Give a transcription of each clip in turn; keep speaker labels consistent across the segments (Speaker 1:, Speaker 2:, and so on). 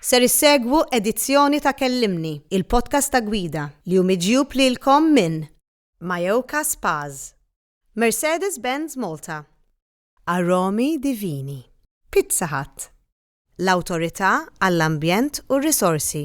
Speaker 1: Ser issegwu edizzjoni ta' Kellimni, il-podcast ta' gwida, li hu miġjub lilkom minn Mayoka Spas, Mercedes-Benz Malta, Aromi Divini, Pizza Hut, l-Awtorità għall-Ambjent u r-Risorsi,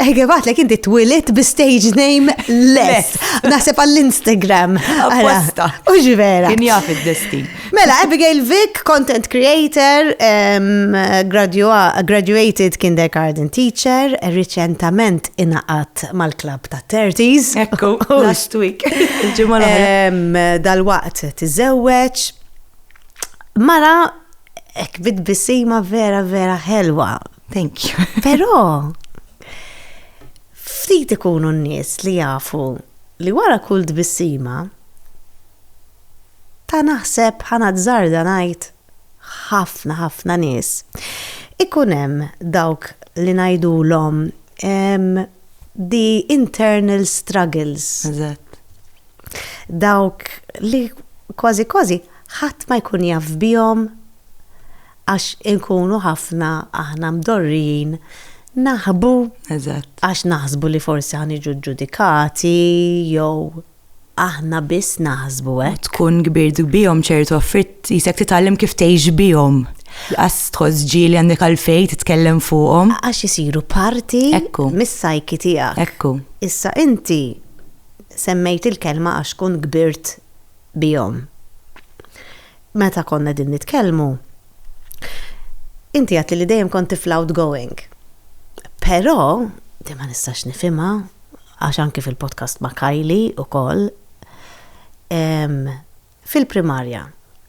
Speaker 1: Ege batlek
Speaker 2: inti
Speaker 1: twilit bi stage name less. Naħseb għall-Instagram. Apposta.
Speaker 2: U ġvera. Kien
Speaker 1: jaf id-destin.
Speaker 2: Mela, Abigail
Speaker 1: Vick, content creator, um, graduated kindergarten teacher, reċentament inaqat mal-klab ta' 30s. Ekku, last
Speaker 2: week. Dal-waqt
Speaker 1: tiżewweġ. Mara, ek bit bisima vera vera ħelwa Thank you.
Speaker 2: Però
Speaker 1: ftit ikunu n-nies li jafu li wara kull tbissima ta' naħseb ħana tżarda ngħid ħafna ħafna nies. Ikun hemm dawk li ngħidulhom the internal struggles. Eżatt. Dawk li kważi kważi ħadd ma jkun jaf bihom Għax inkunu ħafna aħna mdorrijin naħbu għax naħsbu li forsi ħa niġu ġġudikati jew aħna biss naħsbu hekk. Tkun kbirt bihom
Speaker 2: ċertu affarijiet jisek titgħallem kif tgħix bihom. Qas tħoss ġieli għandek għalfejn titkellem fuqhom. Għax isiru
Speaker 1: parti mis-sajki tiegħek. Ekku. Issa
Speaker 2: inti
Speaker 1: semmejt il-kelma għax tkun kbirt bihom. Meta konna qegħdin nitkellmu, inti għedtli li dejjem kont tifla outgoing. Però, din ma nistax nifhimha, għax anki fil-podcast ma' Kylie ukoll, fil-primarja,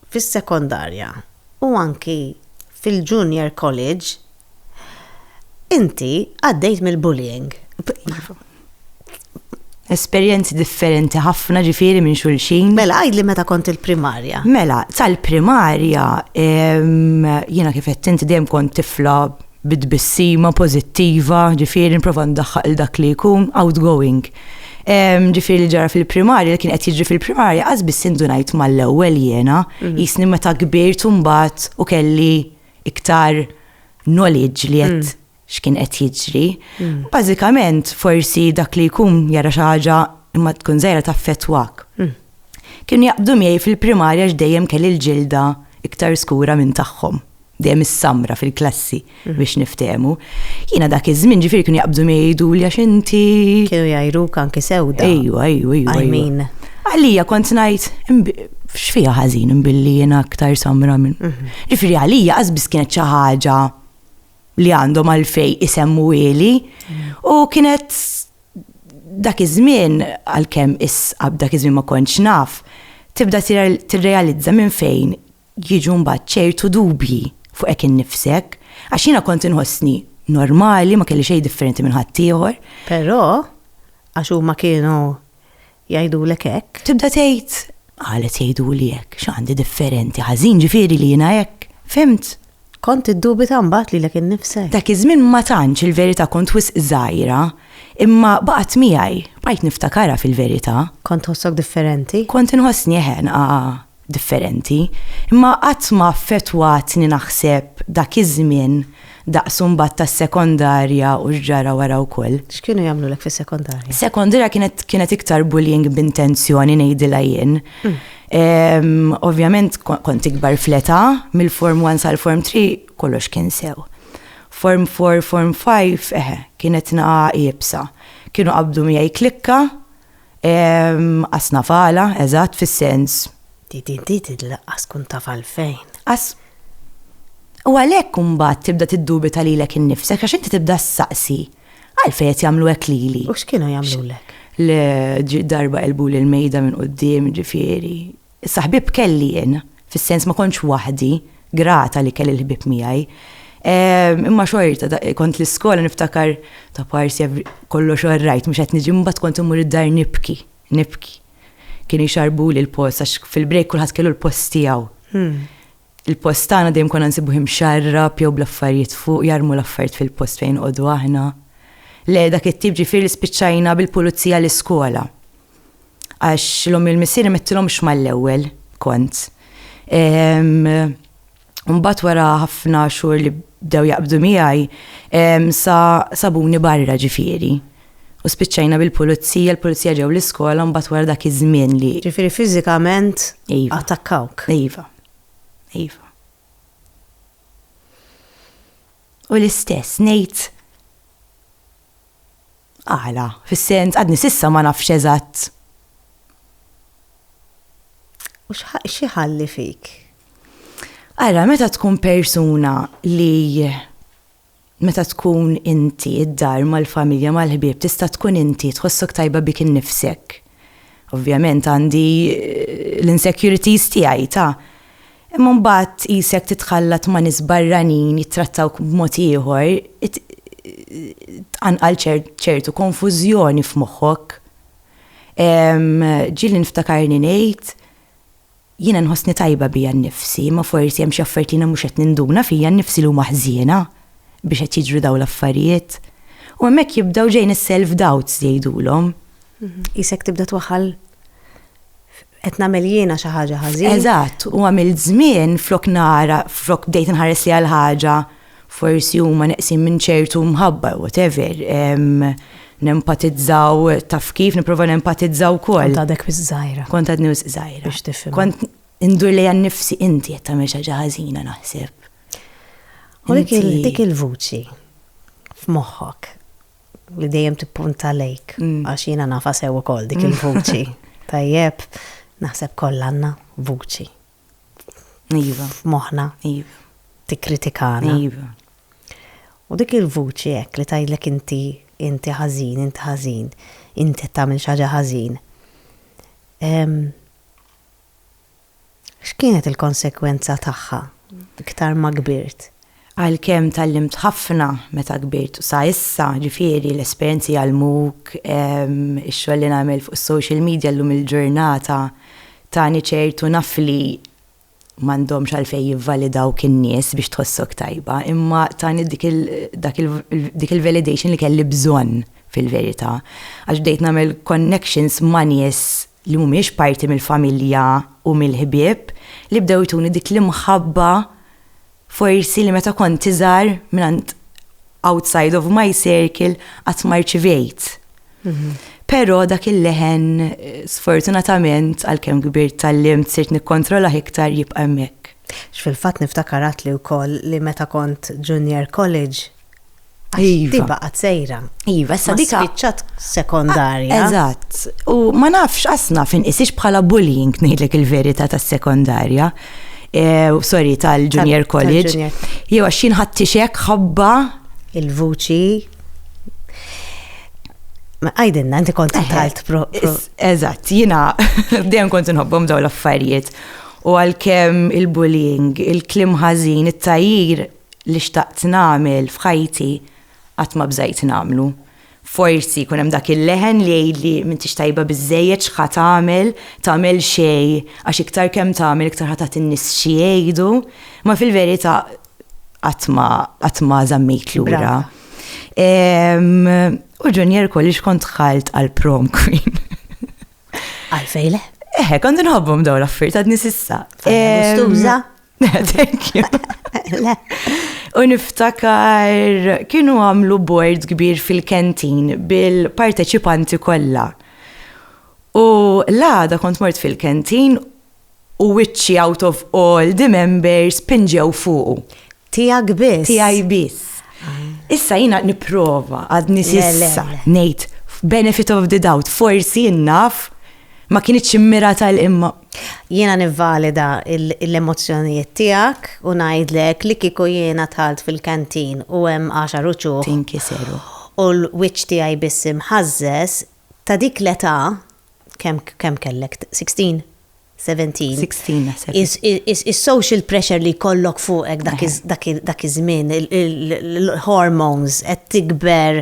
Speaker 1: fis-sekondarja u anki fil-junior college, Inti għaddejt mill-bullying. Iva.
Speaker 2: Esperjenzi differenti ħafna ġifiri minn xulxin. Mela, għajd li meta kont
Speaker 1: il-primarja. Mela,
Speaker 2: sal-primarja, jiena kif qed inti dejjem kont tifla bid-bissima pozittiva, ġifiri nprova ndaħħaq il dak li jkun outgoing. Ġifiri li ġara fil-primarja, li kien qed jiġri fil-primarja, għazbis sindunajt mal-ewwel jiena, jisni mhm. meta kbirt u mbagħad u kelli iktar knowledge li qed x'kien qed jiġri. Bażikament forsi dak li jkun jara xi ħaġa imma tkun żgħira taffettwak. Kienu jaqbdu miegħi fil-primarja għax dejjem kelli l-ġilda iktar skura minn tagħhom, dejjem is-samra fil-klassi biex niftehmu. Jiena dak iż-żmien ġifieri kienu jaqbdu miegħi jgħiduli għax inti. Kienu jgħajruk anki sewda.
Speaker 1: Ejwa, ejwa, ejwa. I
Speaker 2: mean.
Speaker 1: Għalija kont
Speaker 2: ngħid x'fiha ħażin imbilli jiena aktar samra minn. Mhm. Ġifieri għalija qasbis kienet xi ħaġa li għandhom għalfej isemmu ili mhm. u kienet dak iż-żmien għalkemm isqab dak iż-żmien ma kontx naf tibda tirrealizza minn fejn jiġu mbagħad ċertu dubji fuq hekk innifsek għax jiena kont inħossni normali ma kelli xejn differenti minn ħaddieħor. Però
Speaker 1: għax huma kienu jgħidulek hekk. Tibda tgħid,
Speaker 2: qalet jgħiduli hekk, x'għandi differenti, ħażin ġifieri li jiena hekk. Fhimt? Kont iddubita
Speaker 1: mbagħad lilek innifsek. Dak iż-żmien ma tantx
Speaker 2: il-verità kont wisq żgħira, imma baqgħet miegħi, bqajt niftakarha fil-verità. Kont tħossok
Speaker 1: differenti? Kont inħossni eħe,
Speaker 2: nqaqa'. differenti, imma qatt ma affettwatni naħseb dak iż-żmien daqs imbagħad tas-sekondarja u x'ġara wara wkoll. X'kienu jagħmlulek
Speaker 1: fis-sekondarja? Sekondarja kienet
Speaker 2: kienet iktar bullying b'intenzjoni ngħidilha jien. Ovvjament kont ikbar fl-età, mill-Form One sal-Form Three kollox kien sew. Form Four, Form Five, eħe, kienet nagħa iebsa. Kienu qabdu miegħi klikka, Ehm, qas nafala, eżatt, fis-sens. Di di
Speaker 1: di di laqqas kun taf għalfejn. Qas.
Speaker 2: U għalhekk imbagħad tibda tiddubita lilek innifsek għax inti tibda ssaqsi għalfejn qed jagħmlu hekk lili. U x'kienu jagħmlulek?
Speaker 1: Le, ġi
Speaker 2: darba qelbuli l-mejda minn quddiem, ġifieri, Issa ħbieb kelli jien, fis-sens ma kontx waħdi, grata li kelli l-ħbieb miegħi. Imma xorta, kont l-iskola niftakar ta' parsi kollox all right, mhux qed niġi mbagħad kont immur id-dar nibki, nibki. Kienu jxarrbuli l-post għax fil-break kulħadd kellu l-post tiegħu. Il-post tagħna dejjem konna nsibuh imxarrab jew bl-affarijiet fuq, jarmu l-affarijiet fil-post fejn inqogħdu aħna. Le, dak it-tip ġifieri li spiċċajna bil-pulizija l-iskola. Għax l-ommi u l-missieri mettilhomx mal-ewwel, kont. Mbagħad wara ħafna xhur li bdew jaqbdu miegħi, sa sabuni barra ġifieri. U spiċċajna bil-pulizija, l-pulizija ġew l-iskola mbagħad wara dak iż-żmien li. Ġifieri fiżikament
Speaker 1: attakkawk. Iva.
Speaker 2: Iva. U l-istess, nejt għala, fis-sens, għadni sissa ma nafx eżatt.
Speaker 1: U xieħalli fik?
Speaker 2: Għara, meta tkun persuna li Meta tkun inti, id-dar, mal-familja, mal-ħbieb, tista' tkun inti, tħossok tajba bik innifsek. Ovvjament għandi l-insecurities tiegħi, ta. Imma mbagħad qisek titħallat ma' nies barranin jittrattawk b'mod ieħor, tqanqal ċertu konfużjoni f'moħħok. Ġieli niftakarni ngħid, Jiena nħossni tajba bija nnifsi, imma forsi hemm xi affarijiet li jiena mhux qed ninduna fija nnifsi li huma ħżiena biex qed jiġru dawn l-affarijiet. U hemmhekk jibdew ġejjin is-self doubts li jgħidulhom. Qisek
Speaker 1: tibda twaħħal qed nagħmel jiena xi ħaġa ħażin. Eżatt, u għamilt
Speaker 2: żmien flok nara, flok bdejt inħares li għal ħaġa forsi huma neqsin minn ċertu mħabba, whatever, nempatizzaw taf kif, niprofa nempatizzaw kol. Kont għadek wis
Speaker 1: zaħira. Kont għadni wis zaħira.
Speaker 2: Biex tifim. Kont
Speaker 1: indur li
Speaker 2: għan nifsi inti jett tamil xaġa ħazina naħseb.
Speaker 1: U dik il-vuċi f'moħħok li dejjem tippunta lejk, mm. għax jiena nafa sew ukoll dik il-vuċi. Tajjeb, naħseb kollanna vuċi.
Speaker 2: Iva. F'moħħna.
Speaker 1: Iva.
Speaker 2: Tikkritikana.
Speaker 1: Iva.
Speaker 2: U
Speaker 1: dik il-vuċi hekk li tgħidlek inti, inti ħażin, inti ħażin, inti qed tagħmel xi ħaġa ħażin. X'kienet il-konsegwenza tagħha iktar ma kbirt? Għalkemm
Speaker 2: tgħallimt ħafna meta kbirt u sa issa, ġifieri l-esperjenzi jgħallmuk, ix-xogħol li nagħmel fuq is-social media llum il-ġurnata tani ċertu nafli m'għandhomx għalfejn jivvalidawk in-nies biex tħossok tajba, imma tani dik il dak il dik il-validation li kelli bżonn fil-verità. Għax bdejt nagħmel connections ma' nies li mhumiex parti mill-familja u mill-ħbieb li bdew ituni dik l-imħabba Forsi li meta kont iżgħar mingħand outside of my circle qatt ma rċivejt. Mhm. Però dak il-leħen eh, sfortunatament għalkemm kbirt tal-lim sirt nikkontrolah iktar jibqa' hemmhekk. X'fil-fatt
Speaker 1: niftakarat li wkoll li meta kont junior college Għax
Speaker 2: Iva. di baqgħet sejra.
Speaker 1: Iva, issa Ma dika.
Speaker 2: spiċċat sekondarja.
Speaker 1: Eżatt. U
Speaker 2: ma nafx qasna fin isix bħala bullying ngħidlek il-verità tas-sekondarja. Eh, sorry, tal-junior Tal- college. tal-junior. Jew għax jien ħadd tixek ħabba. Il-vuċi.
Speaker 1: Ma għajdinna, inti kont talt pro. pro- Is- Eżatt,
Speaker 2: jina dejjem kont inħobbhom daw l-affarijiet. U għalkemm il-bullying, il-klim ħażin, it-tajjir, li xtaqt nagħmel f'ħajti qatt ma bżajt nagħmlu. Forsi jkun hemm dak il-leħen li jgħidli m'intix tajba biżżejjed x'ħa tagħmel, tagħmel xejn għax iktar kemm tagħmel iktar ħa tagħti n-nies xi jgħidu, imma fil-verità qatt ma qatt ma żammejt lura. U Junior College kont dħalt għal prom queen.
Speaker 1: Għalfejn le? Eħe, kont
Speaker 2: nħobbhom dawn l-affarijiet għadni sissa. Gustuża?
Speaker 1: Thank
Speaker 2: you. U niftakar kienu għamlu board kbir fil-kentin bil-parteċipanti kollha. U l-għada kont mort fil-kentin u witchy out of all the members pinġew fuqu. Tijak biss.
Speaker 1: Tijaj biss. Ah.
Speaker 2: Issa jina niprofa għad nisissa nejt benefit of the doubt forsi naf ma kienieċ immira tal-imma Jiena
Speaker 1: nivvalida l-emozzjonijiet tiegħek u ngħidlek li kieku jiena dħalt fil-canteen u hemm għaxar uċuħ. Tinkiseru.
Speaker 2: U l-wiċċ
Speaker 1: tiegħi biss imħażżeż, ta' dik l-età, kemm kemm kellek, sixteen? Seventeen? Sixteen
Speaker 2: naħseb. Is-social
Speaker 1: pressure li jkollok fuqek dak iż-żmien, il-hormones, qed tikber,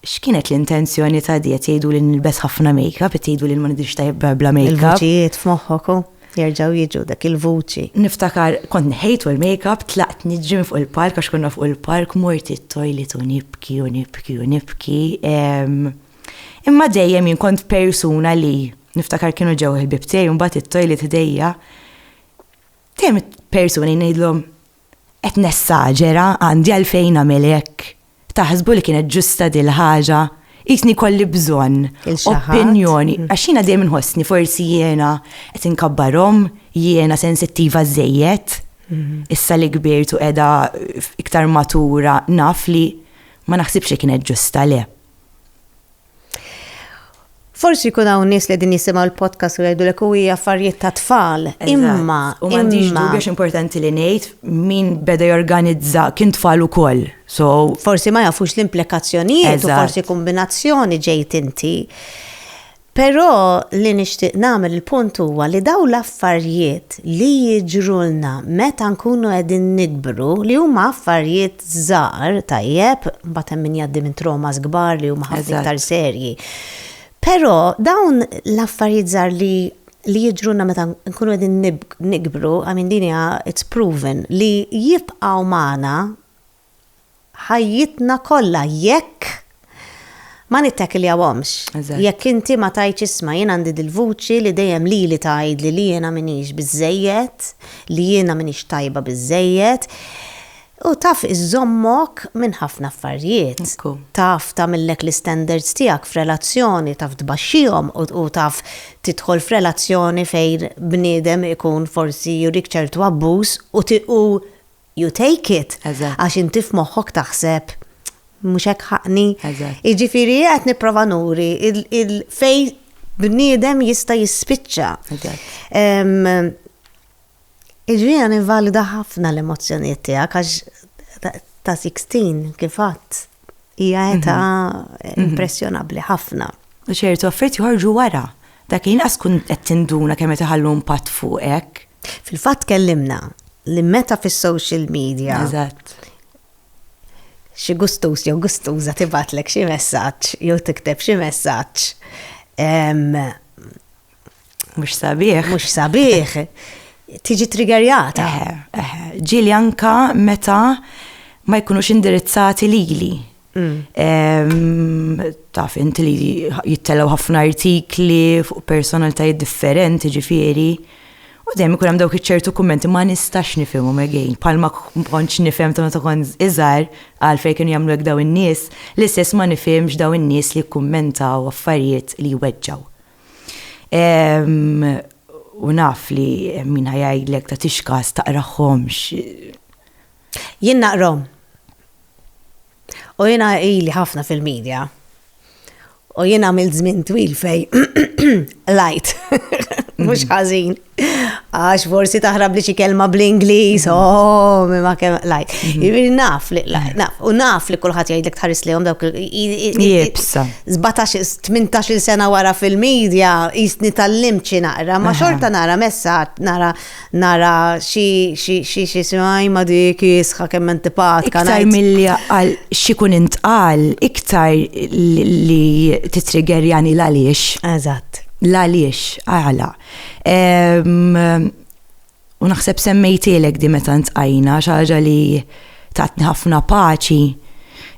Speaker 2: X'kienet l-intenzjoni ta' di? Qed jgħidu li nilbes ħafna makeup, qed jgħidu li ma nidhirx tajjeb bla makeup. Il-vuċijiet f'moħħok hu,
Speaker 1: jerġgħu jiġu, dak il-vuċi. Niftakar kont
Speaker 2: neħejtu l-makeup, tlaqt niġri minn fuq il-palk għax konna fuq il-palk, mort it-toilet u nibki u nibki u nibki. Imma dejjem jien kont persuna li, niftakar kienu ġew il-ħbieb tiegħi u mbagħad it-toilet ħdejja, dejjem persuni ngħidlhom, Qed nessagera, għandi għalfejn nagħmel hekk? Taħsbu li kienet ġusta dil-ħaġa? Qisni jkolli bżonn opinjoni, għax jiena dejjem inħossni forsi jiena qed inkabbarhom, jiena sensittiva żżejjed. Issa li kbirt u qiegħda iktar matura naf li ma naħsibx li kienet ġusta, le.
Speaker 1: Forsi jkun hawn nies li qegħdin jisimgħu l-podcast u jgħidulek u hija affarijiet ta' tfal. Imma u m'għandix dubju
Speaker 2: importanti li ngħid min beda jorganizza kien tfal ukoll. So forsi ma jafux
Speaker 1: l-implikazzjonijiet u forsi kombinazzjoni ġejt inti. Però li nixtieq nagħmel il-punt huwa li daw l-affarijiet li jiġrulna meta nkunu qegħdin nikbru li huma affarijiet żgħar tajjeb, mbagħad hemm min jgħaddi minn traumas kbar li huma ħafna iktar serji. Però dawn l-affarijiet żgħar li li jidruna meta nkunu qegħdin nikbru, I mean din hija it's proven li jibqgħu magħna ħajjitna kollha jekk ma nittakiljawhomx. Eżatt. Jekk inti ma tgħidx isma' jien għandi dil-vuċi li dejjem lili tgħidli li jiena m'iniex biżżejjed, li jiena m'iniex tajba biżżejjed, u taf iżżommok minn ħafna affarjiet. Ekku. Taf tagħmillek l-istandards tiegħek f'relazzjoni, taf tbaxxihom u u taf tidħol f'relazzjoni fejn bniedem ikun forsi jurik ċertu abbuż u ti u you take it. Eżatt. Għax inti f'moħħok taħseb mhux hekk ħaqni. Eżatt. Jiġifieri qed nipprova nuri il- il- fej bniedem jista' jispiċċa. Eżatt. Em, Iġri għan invalida ħafna l-emozjoniet tijak, għax ta' 16 kifat. Hija mhm. età mhm. impressjonabbli ħafna. U ċertu affarijiet
Speaker 2: joħorġu wara. Dak inqas kun qed tinduna kemm qed iħallu impatt fuqek. Fil-fatt
Speaker 1: kellimna li meta fis-social media. Eżatt. Xi gustus jew gustuża tibatlek xi messaġġ jew tikteb xi messaġġ
Speaker 2: Mhux sabiħ. Mhux sabiħ.
Speaker 1: Tiġi triggerjata. Ġili
Speaker 2: anka meta ma jkunux indirizzati lili. Mm. Taf inti li jittelew ħafna artikli fuq personalitajiet differenti ġifieri. U dejjem ikun hemm dawk iċ-ċertu kummenti ma nistax nifhimhom again. Palma kontx nifhem ta' meta kont iżgħar għalfejn kienu jagħmlu hekk daw in-nies, l-istess ma nifhimx daw in-nies li jkummentaw affarijiet li jweġġaw. U naf li min ħajgħidlek ta' tixkas taqraħħomx.
Speaker 1: Jien naqrom. U jien ili ħafna fil-medja. U jien għamil żmien twil fej lajt. Mhux ħażin. Għax forsi taħrab li xi kelma bl-Ingliż, mm. oh, ma kemm lajk. Mm-hmm. Jiġifieri naf li naf u naf li kulħadd jgħidlek tħares lihom dawk jibsa. 17-18 sena wara fil-medja jisni tal-lim xi naqra, ma xorta nara messa nara nara xi xi xi xi xi ma dik jisħa kemm antipatka. Iktar milli
Speaker 2: għal xi kun intqal iktar li titriggerjani l-għaliex. Eżatt.
Speaker 1: L-għaliex
Speaker 2: għala. U naħseb semmejtilek di meta ntqajna xaġa li tatni ħafna paċi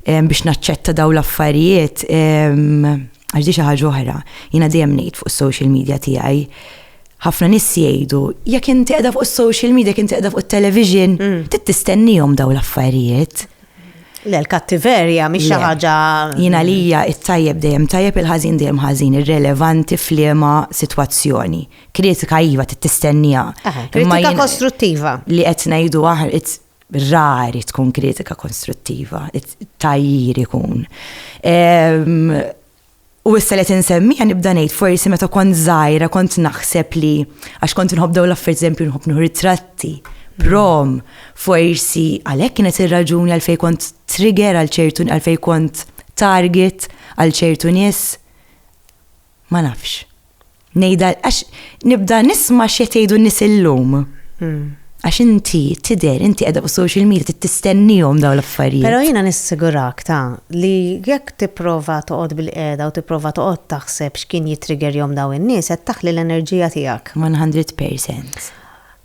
Speaker 2: biex naċċetta daw l-affarijiet għax di xi ħaġa oħra. Jiena dejjem ngħid fuq is-social media tiegħi ħafna nis jgħidu, jekk inti qiegħda fuq is-social media, jekk inti qiegħda fuq it-television, mm. trid tistennihom daw l-affarijiet. Le,
Speaker 1: l-kattiverja mhix xi ħaġa. Jiena lija
Speaker 2: it-tajjeb dejjem tajjeb il-ħażin dejjem ħażin, irrelevanti f'liema sitwazzjoni. Kritika iva tistennija. Kritika
Speaker 1: kostruttiva. Li qed ngħidu
Speaker 2: aħna rari tkun kritika konstruttiva, tajjir ikun. Ehm, U issa li qed insemmieha nibda ngħid forsi meta kont żgħira kont naħseb li għax kont inħobb dawn l-affarijiet eżempju nħobb nieħu ritratti, prom, forsi għalhekk kienet ir-raġuni għalfejn kont trigger għal ċertu għalfejn kont target għal ċertu nies. Ma nafx. Ngħidha għax nibda nisma' x'qed jgħidu n-nies illum. Hmm. Għax inti tidher, inti qiegħda fuq social media trid tistennihom dawn l-affarijiet. Però jiena nissigurak
Speaker 1: ta' li jekk tipprova toqgħod bil-qiegħda u tipprova toqgħod taħseb x'kien jitrigger jom dawn in-nies qed taħli l-enerġija tiegħek. 100%.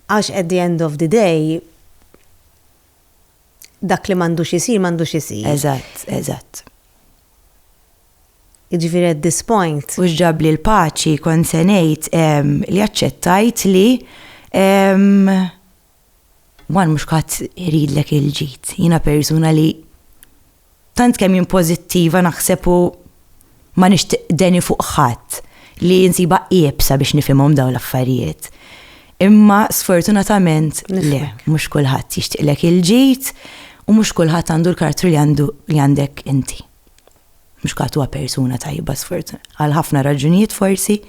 Speaker 2: Għax
Speaker 1: at the end of the day dak li m'għandux isir m'għandux isir. Eżatt, eżatt. Jiġifieri at this point. U x'ġabli l-paċi,
Speaker 2: kont se ngħid li aċċettajt li one mhux kulħadd iridlek il-ġid. Jiena persuna li tant kemm jien pożittiva naħseb u ma nixtieq deni fuq ħadd li nsibha iebsa biex nifhimhom dawn l-affarijiet. Imma sfortunatament le, mhux kulħadd jixtieqlek il-ġid u mhux kulħadd għandu l-karattru li għandek inti. Mhux kat huwa persuna tajba sfortun għal ħafna raġunijiet forsi,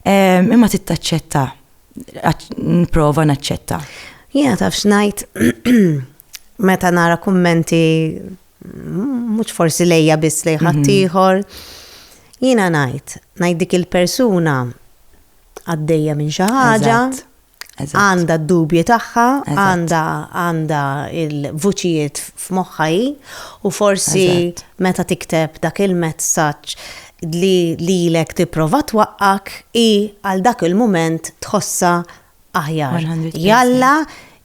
Speaker 2: ehm, imma tittaċċetta, nprova naċċetta. Jiena taf
Speaker 1: xnajt meta nara kummenti mhux forsi lejja biss lej mhm. ħaddieħor. Jiena ngħid, ngħid dik il-persuna għaddejja minn xi ħaġa Għandha d-dubji tagħha, għandha għandha l-vuċijiet f'moħħha hi u forsi meta tikteb dak il-messaġġ li lilek tipprova twaqqgħek hi għal dak il-mument tħossha aħjar. Jalla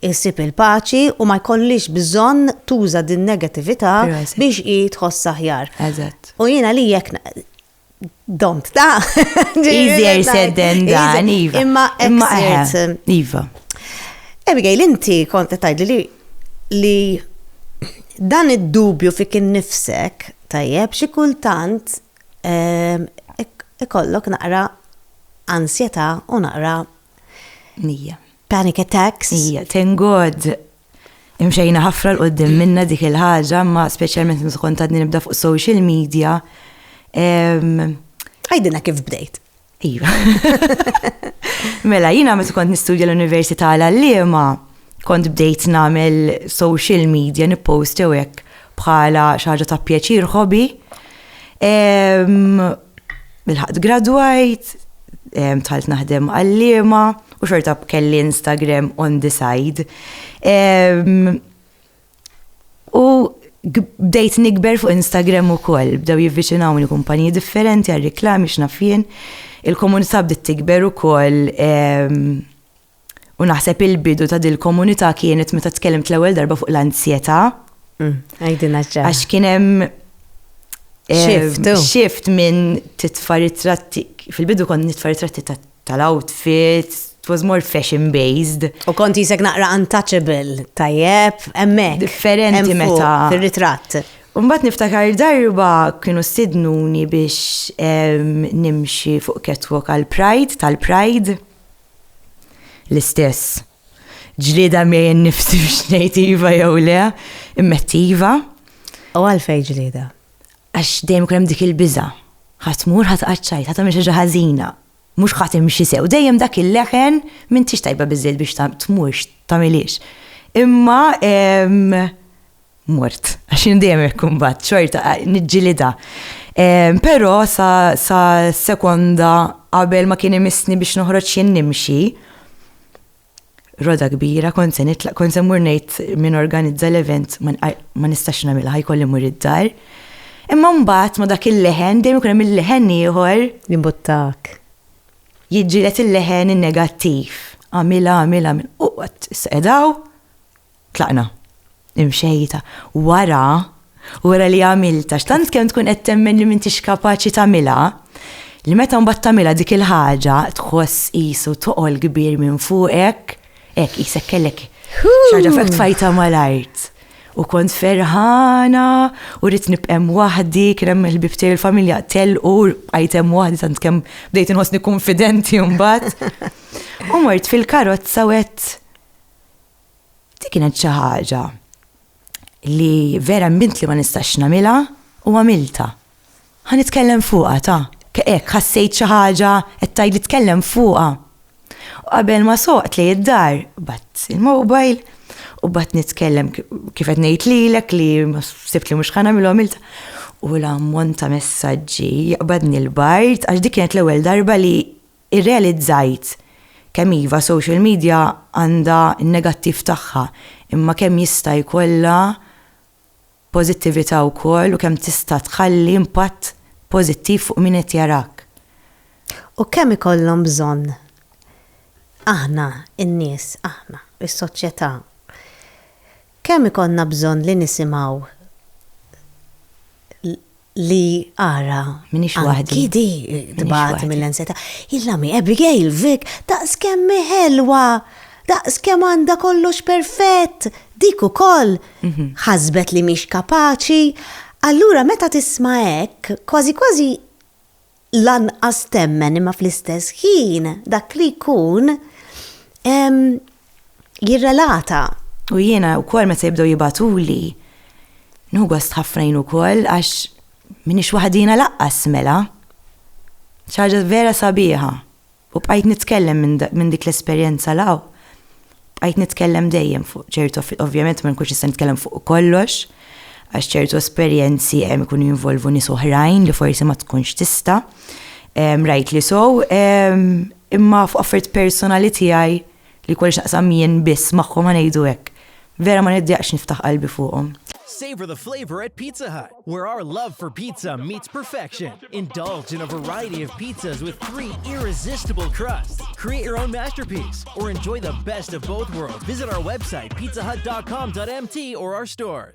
Speaker 1: issib il-paċi u ma jkollhiex bżonn tuża din-negatività biex hi tħossha aħjar. U jiena li jekk Domt ta' Easier
Speaker 2: said than done, Iva. Imma imma
Speaker 1: Iva. Abigail, inti kont tajdi li li dan id-dubju fik innifsek tajjeb xi kultant ehm, ikollok naqra ansjetà u naqra Nija. Panic attacks. Ija, thank God
Speaker 2: Imxejna ħafna l-qoddim minna dik il-ħaġa, ma speċjalment mżkont ta' nibda fuq social media.
Speaker 1: Għajdina kif bdejt. Iva.
Speaker 2: mela, jina meta kont nistudja l-Università l-Allima, kont bdejt namel social media, nippost jew hekk bħala xi ħaġa ta' pjaċir ħobi. Bilħaqt gradwajt, tħalt naħdem għallima u xorta kelli Instagram on the side. U bdejt nikber fuq Instagram u koll, bdew jivvicinawni kumpaniji differenti għal reklami xnafjen, il-komunità bdiet tikber u koll U naħseb il-bidu ta' dil-komunità kienet meta tkellimt l-ewwel darba fuq l-anzjetà. Mm, għajdina
Speaker 1: ġa. Għax kien hemm
Speaker 2: eh, Shift, oh. shift minn titfa' ritratti. Fil-bidu kont nitfa' ritratti ta' tal-outfit, it was more fashion based. U kont jisek naqra
Speaker 1: untouchable, tajjeb, emmek. Differenti meta.
Speaker 2: Fil-ritrat.
Speaker 1: Umbat niftakar
Speaker 2: darba kienu sidnuni biex em, nimxi fuq catwalk għal Pride, tal-Pride. L-istess. Ġlieda miegħi nnifsi biex ngħid iva jew le, immetti iva. U
Speaker 1: għalfejn ġlieda?
Speaker 2: Għax dejjem ikun hemm dik il-biża'. Ħadd
Speaker 1: tmur,
Speaker 2: ħadd qaċċajt, ħadd tagħmel xi ħaġa ħażina. Mhux ħadd imxi sew, dejjem dak il-leħen m'intix tajba biżżejjed biex tmurx, tagħmilhiex. Imma mort, għax jien dejjem ikkumbat xorta niġġilida. Però sa, sa sekonda qabel ma kien imissni biex noħroġ jien nimxi, roda kbira, kont se nitlaq, kont se mur ngħid min organizza l-event ma nistax nagħmilha ħajkolli mur id-dar. Imma mbagħad ma dak il-leħen dejjem ikun hemm il-leħen ieħor. Jimbuttak. Jiġġieled il-leħen in-negattiv. Għamilha, għamilha, għamilha. U qatt, sedaw, Tlaqna. Imxejta. Wara, wara li għamiltha, x'tant kemm tkun qed temmen li m'intix kapaċi tagħmilha, li meta mbagħad tagħmilha dik il-ħaġa tħoss qisu toqol kbir minn fuqek, hekk qisek kellek xi ħaġa f'hekk tfajtha mal-art. U kont ferħana u rrid nibqa' hemm waħdi, kien hemm il-ħbieb tiegħi l-familja telqu, bqajt hemm waħdi tant kemm bdejt inħossni kunfidenti mbagħad. U mort fil-karozza u għedt, Dik kienet xi ħaġa li vera mbilt li ma nistax nagħmilha u għamiltha. Ħa nitkellem fuqha ta' hekk ħassejt xi ħaġa qed tgħidli tkellem fuqha. U qabel ma soqt li id-dar, bat il-mobile u bat nitkellem kif qed ngħid lilek li sibt li mhux ħa nagħmilha għamiltha. U l-ammont ta' messaġġi jaqbadni l-bard għax dik kienet l-ewwel darba li Irrealizzajt kemm iva social media għandha n-negattiv tagħha imma kemm jista' jkollha pożittività wkoll u kemm tista' tħalli impatt pożittiv fuq min qed jarak. U
Speaker 1: kemm ikollhom bżonn aħna n-nies, aħna, is-soċjetà, kemm ikollna bżonn li nisimgħu li ara. Minix waħdi.
Speaker 2: Kidi tbat
Speaker 1: mill-enseta. Il-lami, Abigail, Vic, daqs kemm ħelwa, daqs kemm għanda kollox perfett, dik ukoll mhm. ħasbet li mhix kapaċi. Allura meta tisma' hekk, kważi kważi lanqas temmen imma fl-istess ħin dak li jkun jirrelata. U jiena
Speaker 2: wkoll meta jibdew jibatuli nħu gost ħafna jien ukoll għax minix waħdina laqqas mela. Ċaġa vera sabiħa. U bqajt nitkellem minn minn dik l-esperjenza 'l hawn, bqajt nitkellem dejjem fuq ċertu ovvjament ma nkunx nista' nitkellem fuq kollox għax ċertu esperjenzi hemm ikunu jinvolvu nies oħrajn li forsi ma tkunx tista', rajtli sew, imma fuq affarijiet personali tiegħi Li jkolli x'naqsam jien biss magħhom ħa ngħidu hekk. Vera ma niddieqx niftaħ qalbi fuqhom. Savor the
Speaker 3: flavor at Pizza Hut, where our love for pizza meets perfection. Indulge in a variety of pizzas with three irresistible crusts. Create your own masterpiece or enjoy the best of both worlds. Visit our website, pizzahut.com.mt or our stores.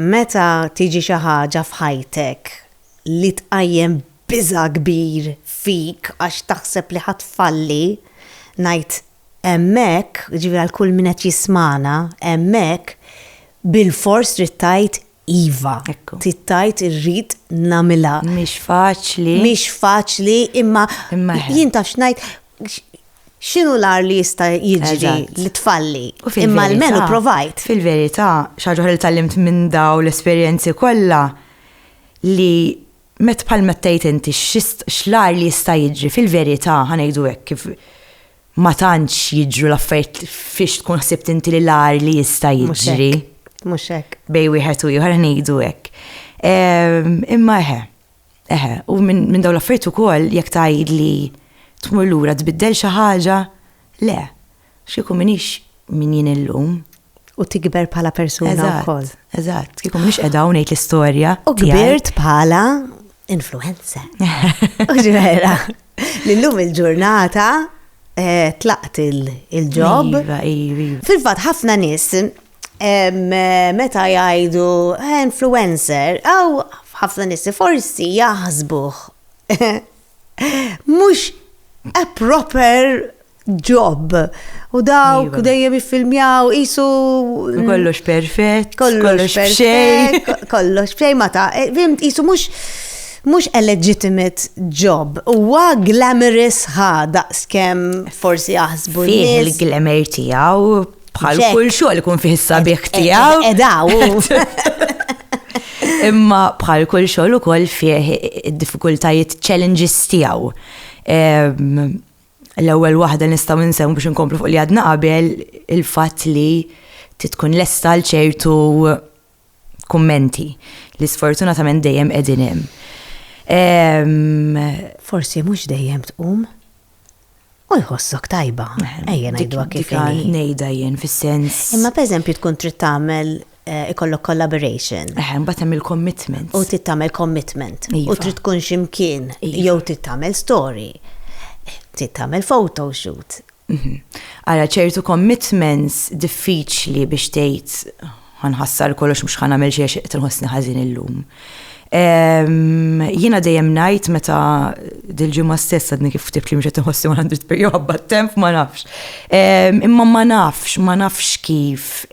Speaker 1: Meta tiġi xi ħaġa f'ħajtek li tqajjem biża' kbir fik għax taħseb li ħa tfalli, ngħid hemmhekk, jiġifieri għal kull min qed jismagħna, hemmhekk bilfors trid tgħid iva. Trid tgħid irrid nagħmilha. Mhix faċli. Mhix faċli imma jien taf x'ngħid X'inhu l-agħar li jista' jiġri li tfalli? Imma almenu provajt. Fil-verità, xi
Speaker 2: ħaġa li tgħallimt minn daw l-esperjenzi kollha li met bħal meta tgħid inti x'l-agħar li jista' jiġri fil-verità ħa ngħidu hekk kif ma tantx jiġru l-affarijiet fiex tkun ħsibt inti li l-agħar li jista' jiġri. Mhux hekk.
Speaker 1: Bej wieħed u ieħor
Speaker 2: ngħidu hekk. Imma eħe, Eħe, u minn min dawn l-affarijiet ukoll jekk tgħid li tmur lura tbiddel xi ħaġa, le, x'kieku minix min jien illum. U tikber
Speaker 1: bħala persuna wkoll. Eżatt, kieku minix
Speaker 2: qiegħda hawn ngħid l-istorja. U kbirt
Speaker 1: bħala influencer. Ġvera, l-lum il-ġurnata eh, tlaqt il-ġob. Iva, iva, iva. Fil-fatt ħafna nies meta jgħidu eh, influencer, għaw ħafna nissi forsi jaħsbuh. Mux a proper job. U dawk iva. dejjem jiffilmjaw, jisu. Mm, kollox perfett, kollox xej. Kollox xej ma ta'
Speaker 2: eh, fimt
Speaker 1: jisu mux mux a legitimate job. Huwa glamorous ħa daqskem forsi jaħsbu. Fih il-glamour tiegħu
Speaker 2: Bħal kull xogħol ikun fih
Speaker 1: is-sabiħ
Speaker 2: tiegħu. Edaw. Imma bħal kull xogħol ukoll fih id-diffikultajiet challenges tiegħu. L-ewwel waħda nistgħu nsew biex inkomplu fuq li għadna qabel il-fatt li titkun lesta għal ċertu kummenti li sfortunatament dejjem qegħdin hemm.
Speaker 1: Forsi mhux dejjem tqum. U jħossok tajba, ejja ngħiduha kif inhi. Ngħidha jien fis-sens.
Speaker 2: Imma pereżempju tkun
Speaker 1: trid tagħmel eh, ikollok collaboration. Eħe, mbagħad hemm
Speaker 2: il-commitment. U trid tagħmel
Speaker 1: commitment. U iva. trid tkun
Speaker 2: x'imkien
Speaker 1: iva. jew trid tagħmel story. Trid tagħmel photo shoot.
Speaker 2: Mhm. Ara ċertu commitments diffiċli biex tgħid Ħa nħassar kollox mhux ħa nagħmel xi għax qed inħossni ħażin illum. Jiena dejjem ngħid meta dil-ġimgħa stess għadni kif ftit li mhux qed inħossni 100 per jew ħabba temp ma nafx. Imma ma nafx, ma nafx kif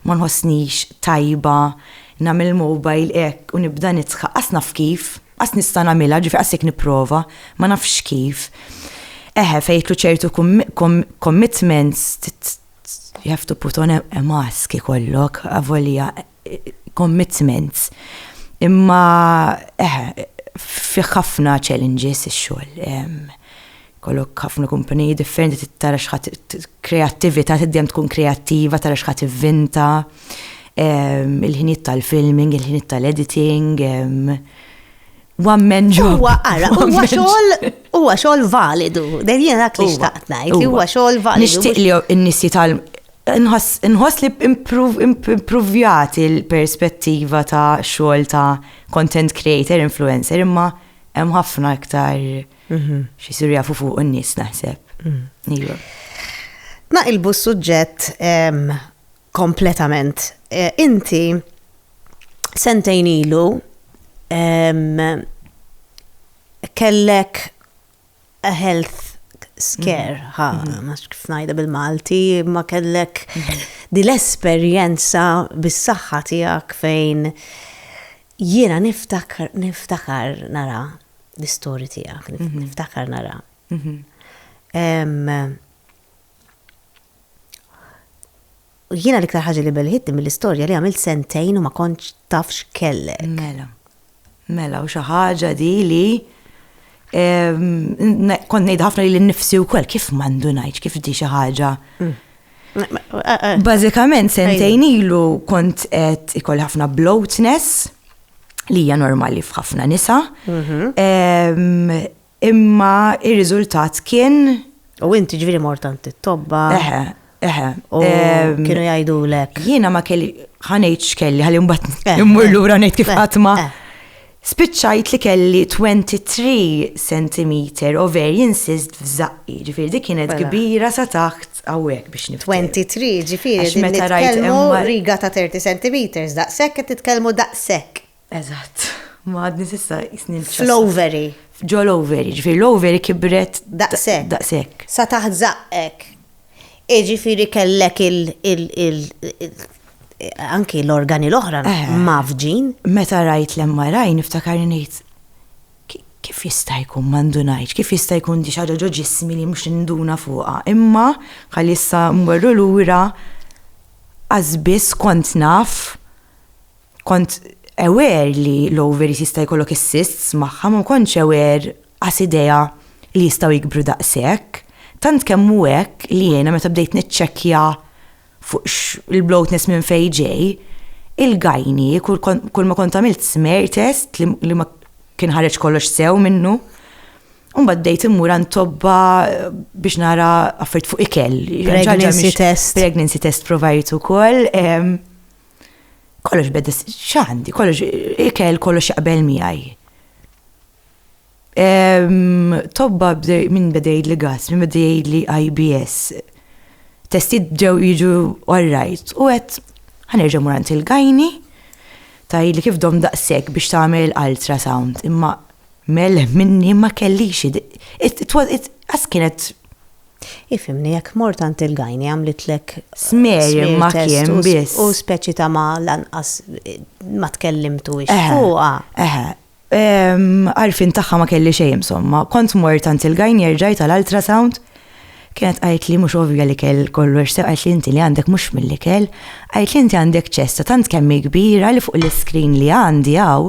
Speaker 2: ma nħossnix tajba nagħmel il-mobile hekk u nibda nidħaq, qas naf kif, qas nista' nagħmilha, ġifieri qas jekk nipprova, ma nafx kif. Eħe fejn jidħlu ċertu commitments You have to put on a mask ikollok, avolja commitments. Imma eħe, fih ħafna challenges ix-xogħol. Kollok ħafna kumpaniji differenti tittara xħat kreattivita, tiddem tkun kreattiva, tara xħat ivvinta, il-ħiniet tal-filming, il-ħiniet tal-editing, one man job. Huwa ara, huwa xogħol huwa xogħol validu. Dejjem jiena dak li xtaqt ngħid li huwa xogħol validu. Nixtieq li n-nies jitalm nħoss li improvjat il-perspettiva ta' xogħol ta' content creator, influencer, imma hemm ħafna iktar mhm. xi siru jafu fuq n-nies naħseb. Mhm. Iva.
Speaker 1: Naqilbu s-suġġett kompletament. Eh, inti sentejn ilu kellek a health scare, mm-hmm. ha, mm-hmm. ma kif najda bil-Malti, ma kellek mm-hmm. dil-esperienza bis-saħħa tiegħek fejn jiena niftakar, niftakar nara l-istorji tiegħek, niftakar nara. Jiena l-iktar ħaġa li belħitni mill-istorja li għamilt sentejn u ma kontx taf x'kellek. Mela.
Speaker 2: Mela, u xi ħaġa di li kont ngħid ħafna li l-nifsi u kol kif mandu ngħid kif di xi ħaġa. Mm. Eh, eh. Bażikament sentejn ilu kont qed ikolli ħafna bloatness li hija normali f'ħafna nisa. Mhm. Imma ir-riżultat kien. U inti
Speaker 1: ġviri mort għand it-tobba. Eħe, eħe. U kienu jgħidu lek. Jiena ma kelli
Speaker 2: ħanejt x'kelli ħalli mbagħad immur lura ngħid kif ħatma. Spiċċajt li kelli 23 cm ovarian cyst f'żaqqi, ġifieri dik kienet kbira sa taħt hawnhekk biex nifhem. 23 ġifieri
Speaker 1: meta rajt riga ta' 30 cm daqshekk qed titkellmu daqshekk. Eżatt.
Speaker 2: Ma għadni sissa jisni l Fl-overi.
Speaker 1: Ġo l-overi,
Speaker 2: ġifiri l-overi kibret. Daqsek. Daqsek.
Speaker 1: Sa taħt zaqqek. Iġifiri kellek il- anki l-organi l-oħra eh. mafġin. Meta rajt
Speaker 2: l-MRI niftakar ngħid kif jista' jkun mandunajt, kif jista' jkun di xaġa ġo ġismi li mhux induna fuqha. Imma ħalli issa mmorru lura għażbis kont naf Kont aware li l-ovaries jista' jkollok is-cysts magħha ma kontx aware qas idea li jistgħu jikbru daqshekk. Tant kemm hu hekk li jiena meta bdejt niċċekkja fuq x' il-bloatness minn fejn ġej, il-gyne kulma kont għamilt smear test li ma kien ħareġ kollox sew minnu. U mbagħad bdejt immur għand tobba biex nara affarijiet fuq ikel. Pregnancy test. Pregnancy test provajt ukoll. Kollox beda x'għandi, kollox ikel kollox jaqbel miegħi. Tobba minn bedejt li gas, minn bedejt li IBS. Testi ġew jiġu all right. U għet, ħanerġa murant il-gajni, taj li kif dom daqsek biex tagħmel ultrasound, imma mel minni ma kellix, it kienet
Speaker 1: Ifhimni, jekk mort għand il-gynae għamlitlek Smear imma
Speaker 2: smear test kien u s- biss. u speċi
Speaker 1: ta' ma lanqas ma tkellimtuhiex Eħe, fuqha. eħe. Ehm,
Speaker 2: għarfien tagħha ma kelli xejn insomma. Kont mort għand il-gynae rġajt għal ultrasound. Kienet qalitli mhux ovvja li kell kollox sew qalitli inti li għandek mhux mill-ikel. Qalitli inti għandek ċesta tant kemm hi kbira li fuq l-iscreen li għandi hawn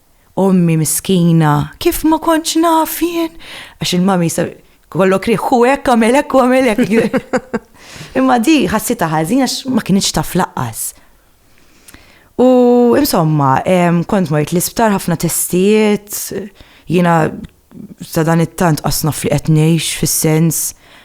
Speaker 2: Ommi miskina, kif ma kontx naf jien? Għax il-mami jista' kollok riħ, hu hekk għamel hekk u għamel hekk. Imma di ħassita ħażin għax ma kienx taf laqqas. U insomma, kont mort l-isptar ħafna testijiet, jiena Sadanittant qas naf li qed ngħix fis-sens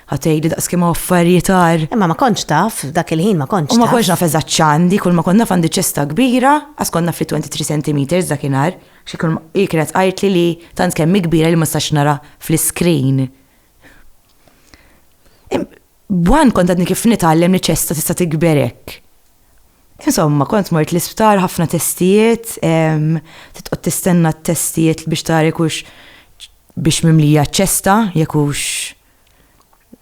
Speaker 2: ħa tgħidli daqs kemm affarijiet għar. Imma ma kontx taf,
Speaker 1: dak il-ħin ma kontx taf. U ma kontx naf eżatt x'għandi,
Speaker 2: kull ma kont naf għandi ċesta kbira, qas kont naf li 23 centimeters dakinhar, hi kienet tqajtli li tant kemm hi kbira li ma nistax nara fl-iscreen. B'Juan kont għadni kif nitgħallem li ċesta tista' tikber hekk. Insomma, kont mort l-isptar ħafna testijiet, titqgħod tistenna t-testijiet biex tara kux biex mimlija ċesta, jekk hux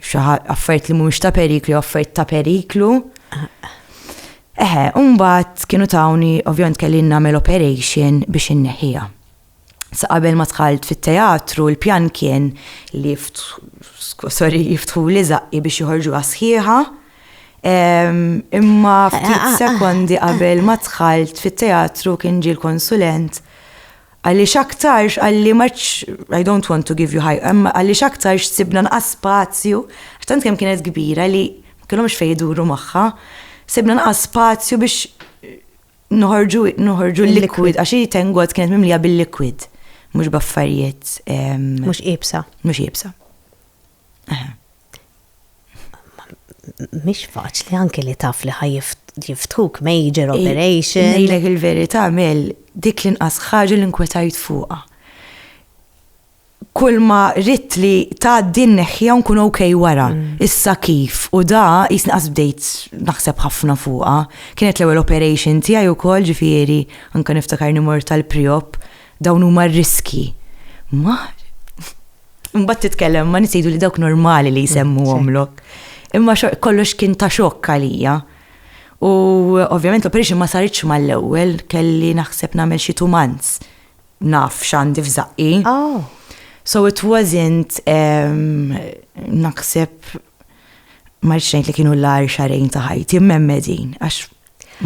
Speaker 2: xi affarijiet li mhumiex ta' periklu, affarijiet ta' periklu. Eħe, mbagħad kienu tawni ovvjament kelli nagħmel operation biex inneħħiha. Sa qabel ma tħalt fit-teatru, il-pjan kien li sorry, jiftħu li zaqqi biex joħorġu għasħiħa. Imma ftit ah, ah, ah. sekondi qabel ma tħalt fit-teatru kien ġi l-konsulent għalli xaktarx għalli maċ, I don't want to give you high, għalli xaktarx sibna nqas spazju, għaxtant kem kienet kbira li kellhomx fejduru maħħa, sibna nqas spazju biex Noħorġu noħorġu l-liquid, għax hi tengot kienet mimlija bil-liquid, mhux baffarijiet. Mhux
Speaker 1: ibsa. Mhux ibsa. Mhix faċli anke li taf li ħaj jiftuk major operation. Nejlek il-verità
Speaker 2: mel dik l-inqas ħaġa li nkwetajt fuqha. kull ma ritt li tgħaddi nneħħiha u nkun ok wara. Mm. Issa kif u da jisni qas bdejt naħseb ħafna fuqha. Kienet l-ewwel operation tiegħi wkoll ġifieri anke niftakar nimor tal-priop dawn huma r-riski. Ma Mbagħad titkellem ma nisejdu li dawk normali li jsemmu għomlok. Imma kollox kien ta' xokk għalija. U ovvjament l-operation ma saritx mal-ewwel kelli naħseb nagħmel xi tumanz. naf x'għandi f'żaqqi. Oh. So it wasn't um, naħseb ma rridx ngħid li kienu l-għar xarejn ta' ħajti mmemmedin għax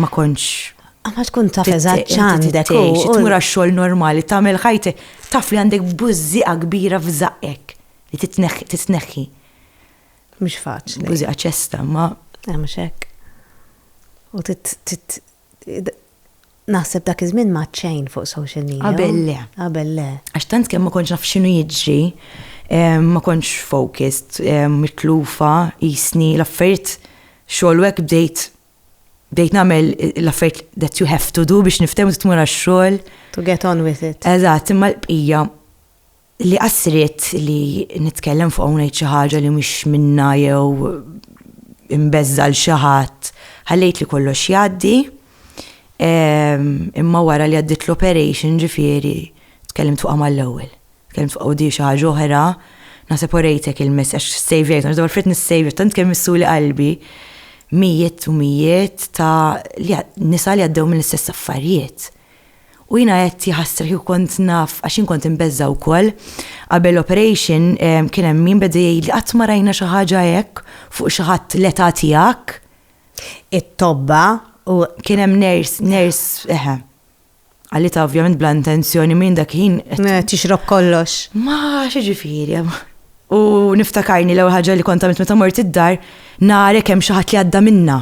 Speaker 2: ma kontx ah, Ma tkun taf
Speaker 1: eżatt x'għandek u tmur għax-xogħol
Speaker 2: normali tagħmel ħajti taf li għandek bużżieqa kbira f'żaqqek li titneħħi.
Speaker 1: Mhux faċli. Bużieqa ċesta ma.
Speaker 2: Eh, mhux hekk.
Speaker 1: U Naħseb dak iż-żmien m'għad xejn fuq social media. Qabel le. Qabel le. Għax tant kemm ma kontx naf x'inhu
Speaker 2: jiġri, ma kontx focused, mitlufa, jisni l-affarijiet xogħol u hekk bdejt bdejt nagħmel l-affarijiet that you have to do biex niftehmu tmur għax-xogħol. To get on with
Speaker 1: it. Eżatt, imma l-bqija
Speaker 2: Li qass ridt li nitkellem fuq hawn ngħid xi ħaġa li mhix minnha jew imbeżżal xi ħadd, ħallejt li kollox jgħaddi. Ehm, imma wara li għaddit l-operation ġifieri tkellimt fuqha mal-ewwel. Tkellimt fuq u di xi ħaġa oħra, naħseb orejtek il-messaġġ sejvjajt, għax dwar frit nissejvjajt, tant kemm missuli qalbi mijiet u mijiet ta' nisa li għaddew mill-istess affarijiet. U jiena għedt jaħasra kieku kont naf għax jien kont imbeżża' wkoll. Qabel l-operation kien hemm min beda jgħidli qatt ma rajna xi ħaġa hekk fuq xi ħadd l-età tiegħek.
Speaker 1: It-tobba u. Kien hemm nurse,
Speaker 2: nurse, eħe. Qalitha ovvjament bla intenzjoni minn dak il-ħin. Tixrob kollox.
Speaker 1: Ma x'ġifieri.
Speaker 2: U niftakarni l-ewwel ħaġa li kont għamilt meta mort id-dar, nara kemm xi ħadd li għadda minnha.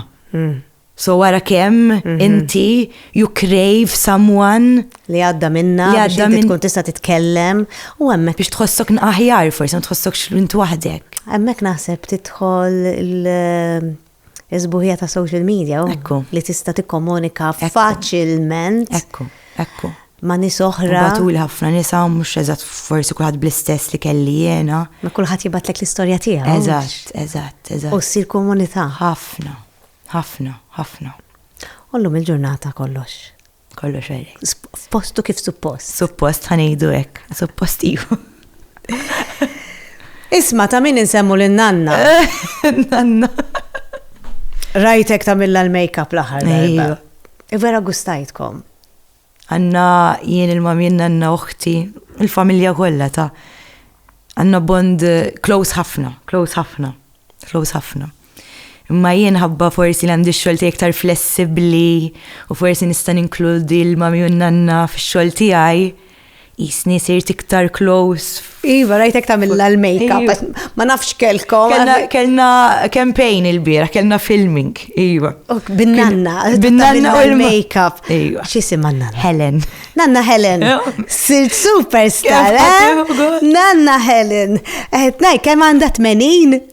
Speaker 2: So ara kemm inti you crave someone li għadda minna
Speaker 1: li għadda minn tkun tista' titkellem u hemmhekk biex tħossok aħjar
Speaker 2: forsi ma tħossokx int waħdek. Hemmhekk naħseb
Speaker 1: tidħol il-żbuħija ta' social media oh, li tista' tikkomunika faċilment. Ekku, ekku.
Speaker 2: Ma nis
Speaker 1: oħra. Batul ħafna nisa
Speaker 2: mhux eżatt forsi kulħadd bl-istess li kelli jiena. Ma kulħadd jibatlek
Speaker 1: l-istorja tiegħu. Eżatt, eżatt, eżatt. U ssir komunità. Ħafna.
Speaker 2: Ħafna,
Speaker 1: ħafna. U llum il-ġurnata kollox? Kollox għalek.
Speaker 2: F'postu kif
Speaker 1: suppost? Suppost ħanejdu
Speaker 2: hekk, suppost iva.
Speaker 1: Isma ta' min insemmu lil nanna. Nanna. Rajtek ta' milla l-makeup l-aħħar. Iva. Vera
Speaker 2: gustajtkom.
Speaker 1: Għandna
Speaker 2: jien il-mami, nanna oħti, il-familja kollha ta' għandna bond close ħafna, close ħafna, close ħafna. Imma jien ħabba forsi li għandi x-xogħol tiegħi iktar flessibbli u forsi nista' ninkludi l-mami u n-nanna fix-xogħol tiegħi. Jisni sirt iktar close. Iva, rajtek
Speaker 1: tamilla l-makeup, iva. ma nafx kelkom. Kellna
Speaker 2: campaign il-bira, kellna filming, iva. Binnanna,
Speaker 1: binnanna u
Speaker 2: l-makeup. Iva.
Speaker 1: Xisim għanna?
Speaker 2: Helen.
Speaker 1: Nanna
Speaker 2: Helen,
Speaker 1: sirt superstar, eh? Nanna Helen. Etnaj, eh, kem għanda 80?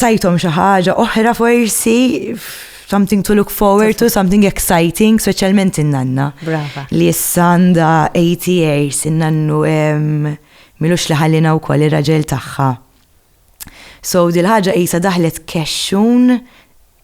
Speaker 2: tajtom xi ħaġa oħra forsi something to look forward to, something exciting, speċjalment in-nanna. Brava. Li issa
Speaker 1: għandha
Speaker 2: 80 years, in-nannu milux li ħallina wkoll ir-raġel tagħha. So dil-ħaġa qisha daħlet kexxun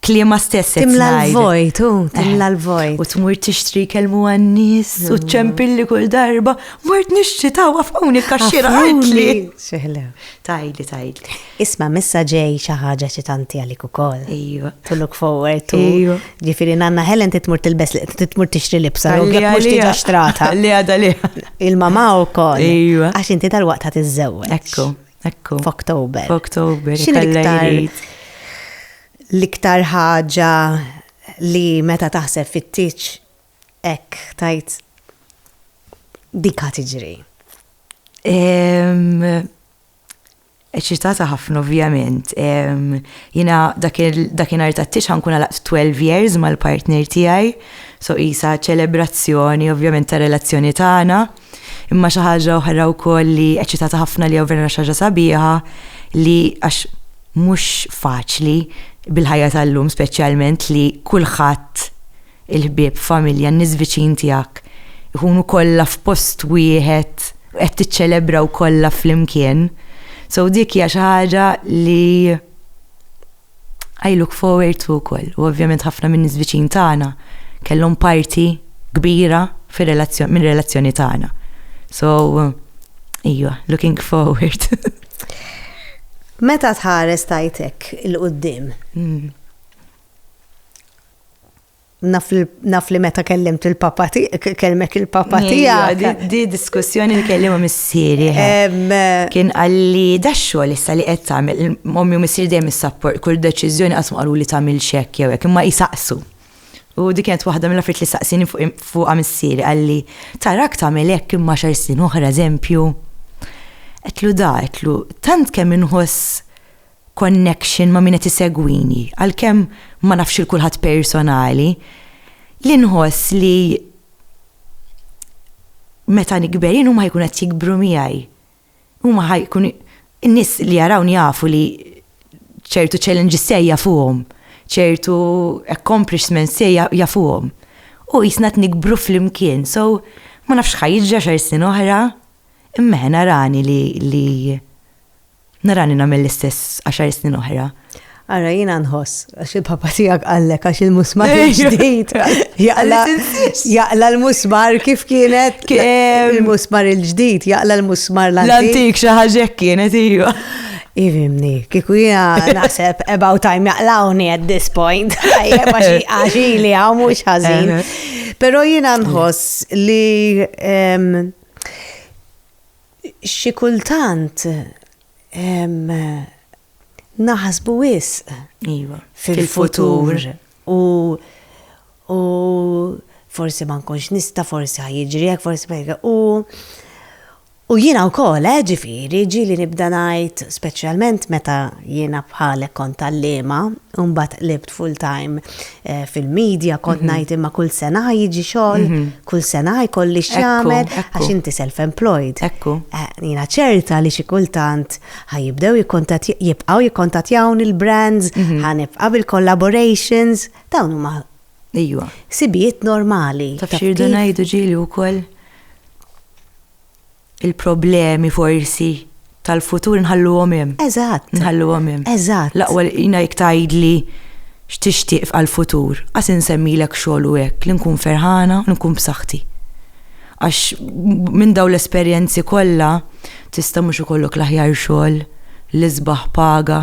Speaker 2: Kliema stess qed Timla ngħid. l-vojt,
Speaker 1: u timla U l-vojt. tmur tixtri
Speaker 2: kelmu għan-nies u ċempilli kull darba. Mort nixtri ta' wafquni kaxxira għajtli. Xeħlew.
Speaker 1: Tajli, tajli.
Speaker 2: Isma' missa
Speaker 1: ġej xi ħaġa xi tanti għalik ukoll. Ejwa. To look
Speaker 2: forward
Speaker 1: to. Ejwa. Ġifieri nanna
Speaker 2: Helen
Speaker 1: titmur tilbes li titmur tixtri libsa, u jekk mhux tiġa xtrata. Li għada li.
Speaker 2: Il-mama wkoll.
Speaker 1: Ejwa. Għax inti tal-waqt
Speaker 2: ħad
Speaker 1: iżżewweġ. Ekku. Ekku.
Speaker 2: F'Oktober.
Speaker 1: F'Oktober. X'in l-iktar l-iktar ħaġa li meta taħseb fit-tiċ ek tajt dika tiġri?
Speaker 2: eċitata ħafna ovvjament. Jina dakin arta t-tix ħankun għalaq 12 years mal-partner tijaj, so jisa ċelebrazzjoni ovvjament ta' relazzjoni tagħna. Ta Imma xi ħaġa oħra wkoll li eċċitata ħafna li vera xi ħaġa sabiħa li għax mhux faċli bil-ħajja tal-lum speċjalment li kulħadd il-ħbieb, familja, n-nies viċin tiegħek ikunu kollha f'post wieħed u qed tiċċelebraw kollha flimkien. So dik hija xi ħaġa li I look forward to wkoll. U ovvjament ħafna min-nies viċin tagħna kellhom parti kbira mir-relazzjoni tagħna. So, ejwa, looking forward.
Speaker 1: Meta tħares tajtek il-qoddim? Hmm. naf li meta kellimt il-papa kelmek il-papa tiegħek. Di diskussjoni
Speaker 2: li kellima missieri. Eh. Kien għalli da xogħol issa li qed tagħmel mommi u missieri dejjem is-sapport kull deċiżjoni qasmu qalu li tagħmel xekk jew hekk imma jisaqsu. U di kienet waħda mill affrit li saqsini fuqha missieri għalli tarak tagħmel hekk imma xar snin oħra eżempju. Qetlu da, qetlu tant kemm inħoss connection ma' min qed isegwini, għalkemm ma nafx lil kulħadd personali, li nħoss li meta nikber jien huma ħajkunu qed jikbru miegħi. Huma ħajkun in-nies li jarawni jafu li ċertu challenges tiegħi jafuhom, ċertu accomplishments tiegħi jafuhom. U jisna qed nikbru flimkien, so ma nafx x'ħa jiġri għaxar snin oħra, imma eħe narani li Narani nagħmel l-istess għaxar snin oħra. Ara jiena
Speaker 1: nħoss, għax il-papa tiegħek qallek għax il-musmar il-ġdid. Jaqla l-musmar kif kienet il-musmar il-ġdid, jaqla l-musmar l-antik. L-antik xi ħaġa
Speaker 2: kienet iva. Irimni,
Speaker 1: kiku jina naħseb about time jaqlawni at this point, għaxi li għaw mux ħazin. Pero jina nħoss li Xi kultant naħsbu wisq fil-futur u forsi ma nkunx nista, forsi ħajġri hekk, forsi ma hekk. U jiena wkoll, eh, ġifieri, ġieli nibda ngħid, speċjalment meta jiena bħalek kont għalliema, u mbagħad qlibt full time fil-media kont mhm. ngħid imma kull sena jiġi xogħol, mhm. kull sena jkolli x'jagħmel għax inti self-employed. Ekku. Eh,
Speaker 2: jiena ċerta
Speaker 1: li xi kultant ħajibdew jibqgħu jikkontattjawni il-brands, mhm. ħanibqa' bil-collaborations, dawn huma Ejwa.
Speaker 2: Sibijiet
Speaker 1: normali. Taf xirdu ngħidu
Speaker 2: ġieli wkoll Il-problemi forsi tal-futur inħalluhom hemm. Eżatt. Inħalluhom
Speaker 1: hemm. Eżatt.
Speaker 2: L-aqwa li jiena
Speaker 1: jekk
Speaker 2: tgħidli x'tixtieq f'għall-futur, qas insemmilek xogħol u hekk, li nkun ferħana u nkun b'saħħti. Għax minn dawn l-esperjenzi kollha tista' mhux ikollok l-aħjar xogħol, l-isbaħ paga,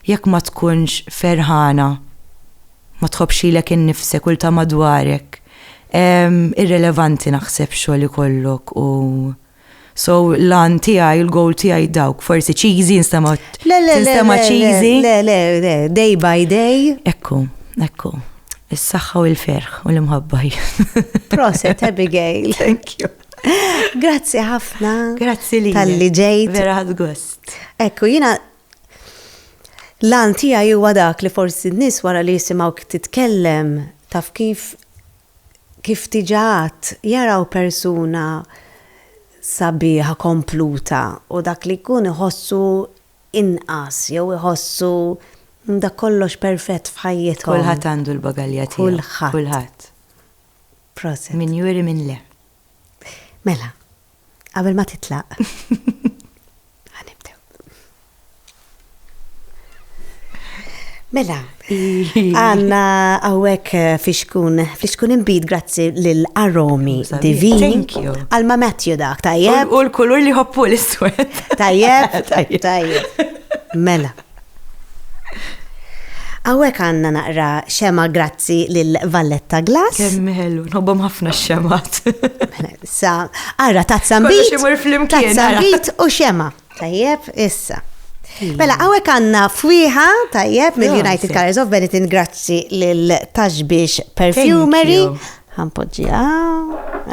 Speaker 2: jekk ma tkunx ferħana, ma tħobbx lilek innifsek u 'l ta' madwarek. Irrelevanti naħseb xogħol ikollok u So l-għan tijaj, l-goal tijaj dawk, forsi cheesy, nistama cheesy. Le, le, le,
Speaker 1: day by day. Ekku,
Speaker 2: ekku. Is-saxħa u l-ferħ u l-imħabbaj. Proset,
Speaker 1: Abigail. Thank you.
Speaker 2: Grazzi
Speaker 1: ħafna. Grazzi li. Tal-li
Speaker 2: ġejt. Vera ħad
Speaker 1: gost.
Speaker 2: Ekku, jina
Speaker 1: L-għan tiegħi huwa dak li forsi n-nies wara li jisimgħuk titkellem, taf kif, kif diġà għedt, jaraw persuna sabiħa, kompluta u dak li jkun iħossu inqas jew iħossu dak kollox perfett f'ħajjithom. Kulħadd għandu l-bagalja
Speaker 2: tiegħu. Kulħadd. Kulħadd.
Speaker 1: Proset. Min juri min le.
Speaker 2: Mela.
Speaker 1: Qabel ma titlaq. Għanibdew. Mela, għanna għawek eh, fixkun, fixkun imbid grazzi l-aromi divini. Għalma
Speaker 2: Matthew dak,
Speaker 1: tajjeb. U l-kulur li hoppu
Speaker 2: l-iswed. Tajjeb,
Speaker 1: tajjeb. Mela. Hawnhekk għandna naqra xema grazzi lil Valletta Glass. Kemm ħelu, nħobbhom
Speaker 2: ħafna x-xemat. Mela, sa,
Speaker 1: ara tazza mbit. Tazza
Speaker 2: mbit u xema.
Speaker 1: Tajjeb, issa. Mela, għawek għanna fwiħa, tajjeb, mill-United Colors of Benetton, grazzi l-Taxbix Perfumery, Ħa npoġġiha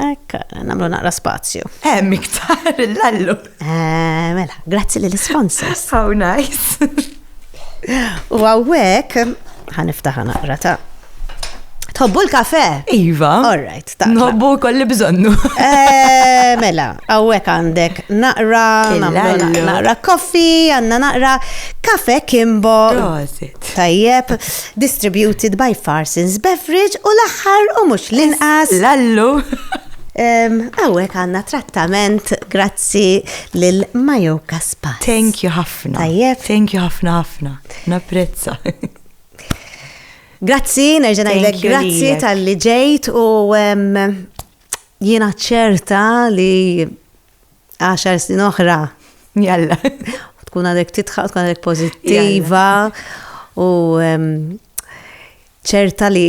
Speaker 1: hekk, nagħmlu naqra spazju. Hemm iktar
Speaker 2: l-allu. Eh, mela,
Speaker 1: grazzi lill sponsors How nice. U għawek, ħaniftaħa naqra ta' Tħobbu l-kafe? Iva. All
Speaker 2: right, ta'
Speaker 1: Nħobbu kolli bżonnu.
Speaker 2: Eh,
Speaker 1: mela, għawek għandek naqra, naqra koffi, għanna naqra kafe kimbo.
Speaker 2: Tajjeb,
Speaker 1: Distributed by Farsons Beverage u l-aħħar u mhux l-inqas. Lallu! Għawek għanna trattament grazzi lil Majo Kaspas. Thank you ħafna.
Speaker 2: Tajjeb. Thank you ħafna
Speaker 1: ħafna.
Speaker 2: Naprezza.
Speaker 1: Grazzi, nerġena jgħidlek grazzi tal-li ġejt u jiena ċerta li għaxar snin oħra. Jalla.
Speaker 2: Tkun għadek
Speaker 1: titħaq, tkun għadek pozittiva u ċerta li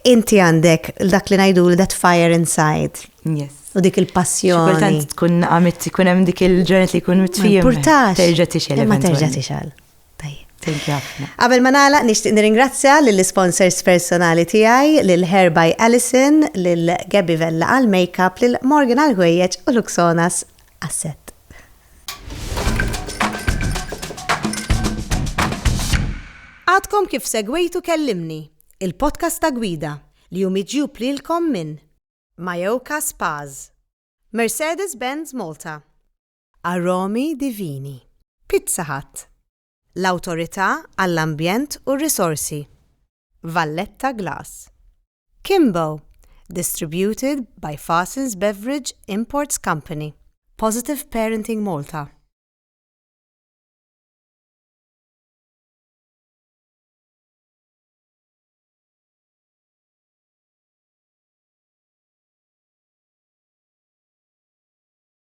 Speaker 1: inti għandek dak li najdu that fire inside. Yes. U dik
Speaker 2: il-passjoni.
Speaker 1: Kultant tkun għamit
Speaker 2: tkun hemm dik il-ġranet li jkun mitfijom. Purtax. Terġa tixel.
Speaker 1: Ma terġa
Speaker 2: tixel. Qabel ma nagħlaq nixtieq
Speaker 1: nirringrazzja lill-isponsors personali tiegħi, lil Hair by Alison, lil Gabby Vella għall-makeup, lil Morgan għall-ħwejjeġ u Luxonas għas-sett. Għadkom kif segwejtu Kellimni, il-podcast ta' Gwida li hu miġjub lilkom minn Mayoka Spas, Mercedes-Benz Malta, Aromi Divini. Pizza Hut, l-Awtorità għall-Ambjent u r-Risorsi, Valletta Glass. Kimbo, distributed by Farsons Beverage Imports Company. Positive Parenting Malta.